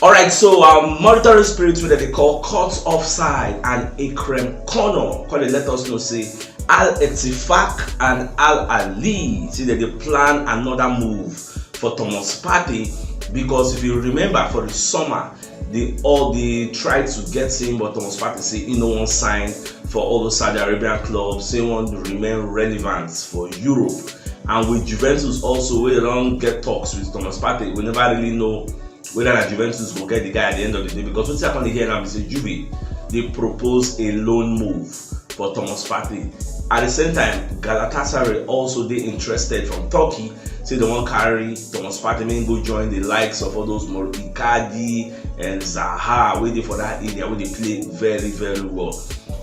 All right, so um, monitoring spirits wey dem dey call cut off side and ekrem kono come dey let us know say al etifak and al ali say dem dey plan another move for thomas partey because if you remember for the summer they all dey try to get him but thomas partey say he no wan sign for all those saudi arabian clubs say he wan remain relevant for europe and with juventus also wey don get talks with thomas partey we never really know whether na juventus go get the guy at the end of the day because wetin i come dey hear now be say juve dey propose a loan move for thomas partey at the same time galatasaray also dey interested from turkey say dem wan carry thomas partey make him go join the likes of all those mor icardi and Zaha wey dey for that area wey dey play very very well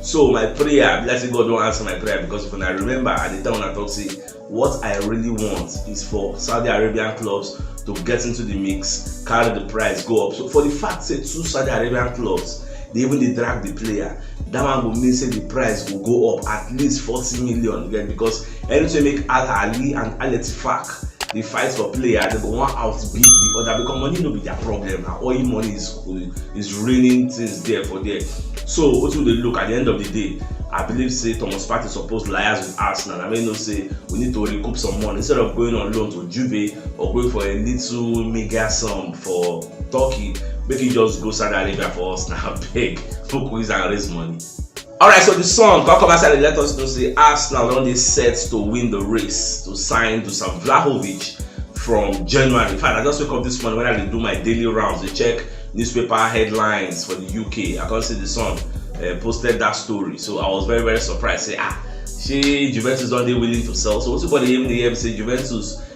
so my prayer be like say God don answer my prayer because if una remember I dey tell una talk say what I really want is for Saudi Arabian clubs to get into the mix carry the price go up so for the fact say two Saudi Arabian clubs dey even dey drag the player that one go mean say the price go go up at least forty million you get because Eritrea make Al Ahly and Al Ettifaq dey fight for player, dem go wan outbid di oda because money no be dia problem, na oil money is is raining things there for there. So wetin we dey look at di end of di day, I believe say Thomas Partey suppose liaise with Arsenal na make e know say we need to recoup some money instead of going on loan to Juve or going for a little meagre sum for Turkey, make e just go Saudi Arabia for us na abeg, make we use am raise money. Alright, so the song come come outside and let us know say Arsenal don dey set to win the race to sign Dusan Vlahovic from January. In fact, I just wake up this morning when I dey do my daily rounds, dey check newspaper headlines for the UK. I come see the song uh, posted that story, so I was very very surprised. Say ah, shey Juventus don dey willing to sell? So wetin body hear me dey hear me say Juventus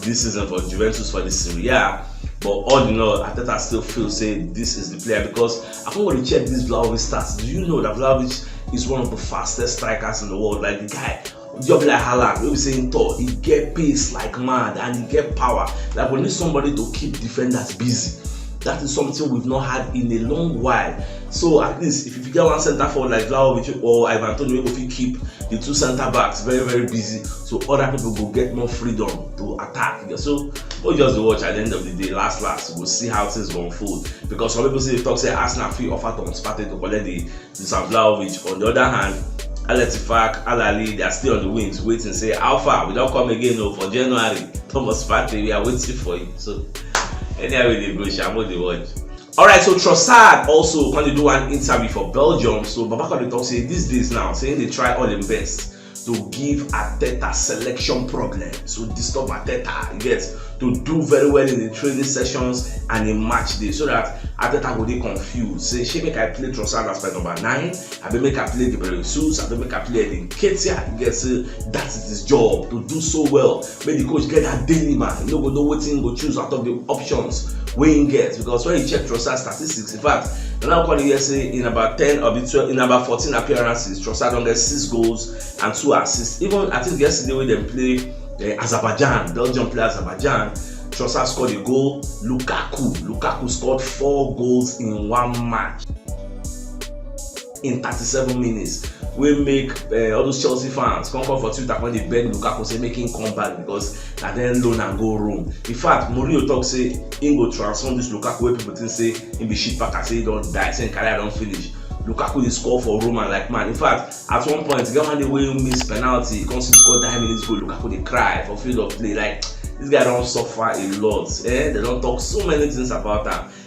this season for Juventus for the Serie A. But all in all, Ateta still feels say this is the player because I think when you check this Vlahovic stats, do you know that Vlahovic is one of the fastest strikers in the world? Like the guy job like Haaland wey be say him tall he get pace like mad and he get power like we need somebody to keep defenders busy that is something we've not had in a long while so at least if you get one centre forward like Vlahovic or Ivan Toney wey go fit keep the two centre backs very very busy so other people go get more freedom to attack you so we just dey watch at the end of the day last last we go see how things go unfold because some people still dey talk say arsenal fit offer thomas partey to collect the dusan vlahovic on the other hand Alatifak, Alali, they are still on the wings, waiting. Say, how far? We don't come again no, oh, for January. Thomas Partey, we are waiting for you. So, anyway, they go, Shamo, they watch. All right, so Trossard also going to do an interview for Belgium. So, Babaka, they talk, say, these days now, saying they try all the best. to give Arteta selection problems, to disturb Arteta, you get, to do very well in the training sessions and in match day so that Arteta go dey confused. Say, she make I play Trossard as my number nine, I be make I play Gabriel Jesus, I be make I play Edin Ketia, you get, say, that is his job, to do so well. Make the coach get that daily man, you no go know wetin go choose out of the options wey he get because when you check Trossard statistics, in fact Ronaldo called here say in about ten of the twelve in about fourteen appearances Trossard don get six goals and two assists even I think yesterday wey dem play uh, Azerbaijan Belgium play Azerbaijan Trossard scored a goal Lukaku Lukaku scored four goals in one match. in thirty seven minutes wey make uh, all those chelsea fans come come for twitter come dey beg lukaku say make him come back because na then loan am go rome in fact mourinho talk say him go transform this lukaku wey people think say him be shit packer say he don die say him career don finish lukaku dey score for roma like man in fact at one point get one day wey he miss penalty he come still score nine minutes goal lukaku dey cry for field of play like this guy don suffer a lot eh they don talk so many things about am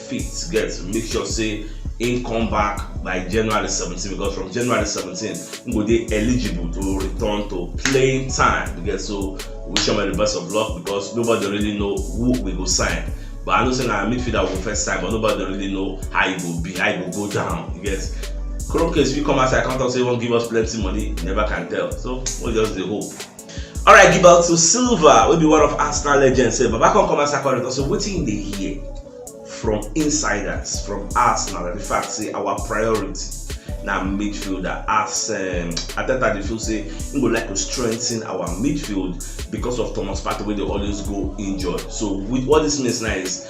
fit get to make sure say im come back by january 17 because from january 17 im go dey eligible to return to playing time because so we wish am the best of luck because nobody really know who we go sign but i know say na midfielder we go first sign but nobody really know how e go be how e go go down you get chrome case fit come outside come talk say e wan give us plenty money you never can tell so we just dey hope Alright, Gilberto Silva wey be one of Arsenal legends say Baba come come as according to so wetin you dey hear from insiders from Arsenal and the fact say our priority na midfielder as um, Ateta dey feel say he go like to strengthen our midfield because of Thomas Partey wey dey always go injured. So with what this means now is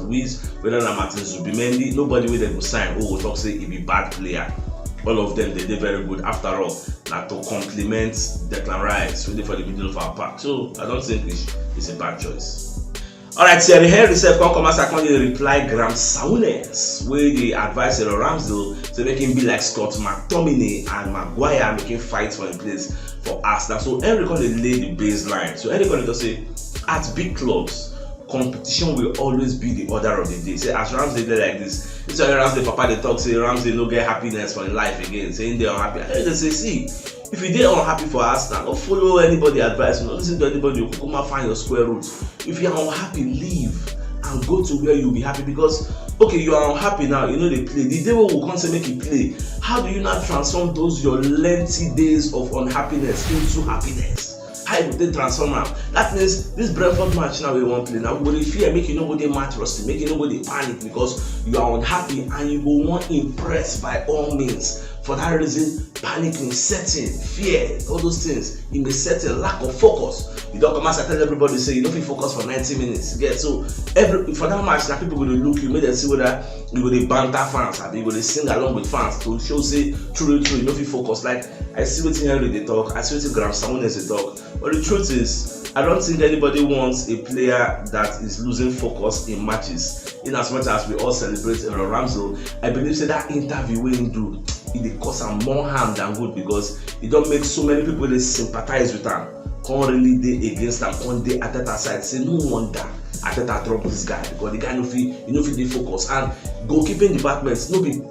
Luiz, whether na Martin Zubimendi, nobody wey dem go sign who go talk say e be bad player. All of them dey dey very good after all na to complement Declan Rice wey dey for the middle of our park. So I don't think Luiz is a bad choice. Alright, Thierry Henry sef come come outside come dey reply Graham Souness wey dey advise Cyril Ramsdale say make him be like Scott McTominay and Maguire make him fight for him place for Arsenal. So Henry come dey lay the baseline. So Henry come dey talk say at big clubs competition will always be the order of the day say as ramsey dey like this this one ramsey papa dey talk say ramsey no get happiness for im life again say im dey unhappy i tell dey say see if you dey unhappy for arsenal no follow anybody advice no listen to anybody you kukuma find your square root if you are unhappy leave and go to where you be happy because okay you are unhappy now you no dey play the day wey we come say make you play how do you now transform those your lengthy days of unhappiness into happiness how you go take transform am that means this brentford match now wey you wan play now go dey fear make you no go dey match rusty make you no go dey panic because you are unhappy and you go wan impress by all means for that reason panic in setting fear all those things in the setting lack of focus you don come outside tell everybody say you no fit focus for ninety minutes you get so every for that match na people go dey look you make dem see whether you go dey banter fans abi you go dey sing along with fans to show say truly truly you no fit focus like I see wetin Henry dey talk, I see wetin Graham Samunes dey talk, but the truth is, I don't think anybody wants a player that is losing focus in matches. In as much as we all celebrate Aaron Ramsdale, I believe say that interview wey him do, e dey cause am more harm than good because e don make so many people dey sympathize with am, come really dey against am, come dey Arteta side say no wonder Arteta drop this guy because the guy no fit, e no fit dey focus and goalkeeping department no be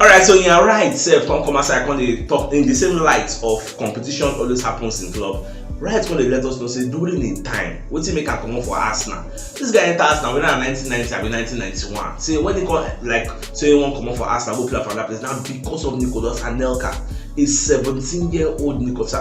alright so in her right sef come come outside come dey talk in the same light of competition always happens in club right come dey let us know say during im time wetin make am comot for arsenal this guy enter arsenal whether na 1990 abi 1991 say when he come like say he wan comot for arsenal go play for another place na because of nicolas anelka a 17 year old nicolas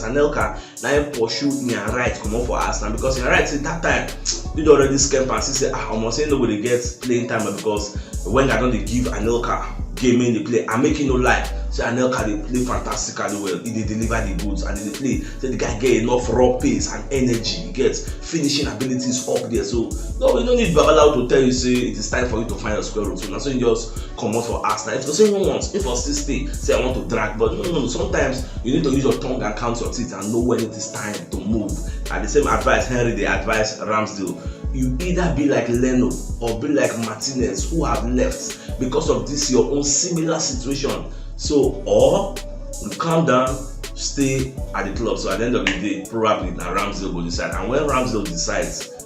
anelka na him pursue me and right comot for house na because na right say that time you don already scam am see say ah omo say no go dey get playing time because when i don dey give anelka game make dey play and make you no lie say anelka dey play fantastically well he dey deliver the goods and he dey play say the guy get enough raw pace and energy he get finishing abilities up there so no you no need babalawo to tell you say it is time for you to find your square root so na so you just comot for house na if to say even once if i still stay say i want to drag but no no no sometimes you need to use your tongue and count your teeth and know when it is time to move and the same advice henry dey advise ramsdale you either be like leno or be like martinez who have left because of this your own similar situation so or you calm down stay at the club so at the end of the day probably na ramsdale go decide and when ramsdale decides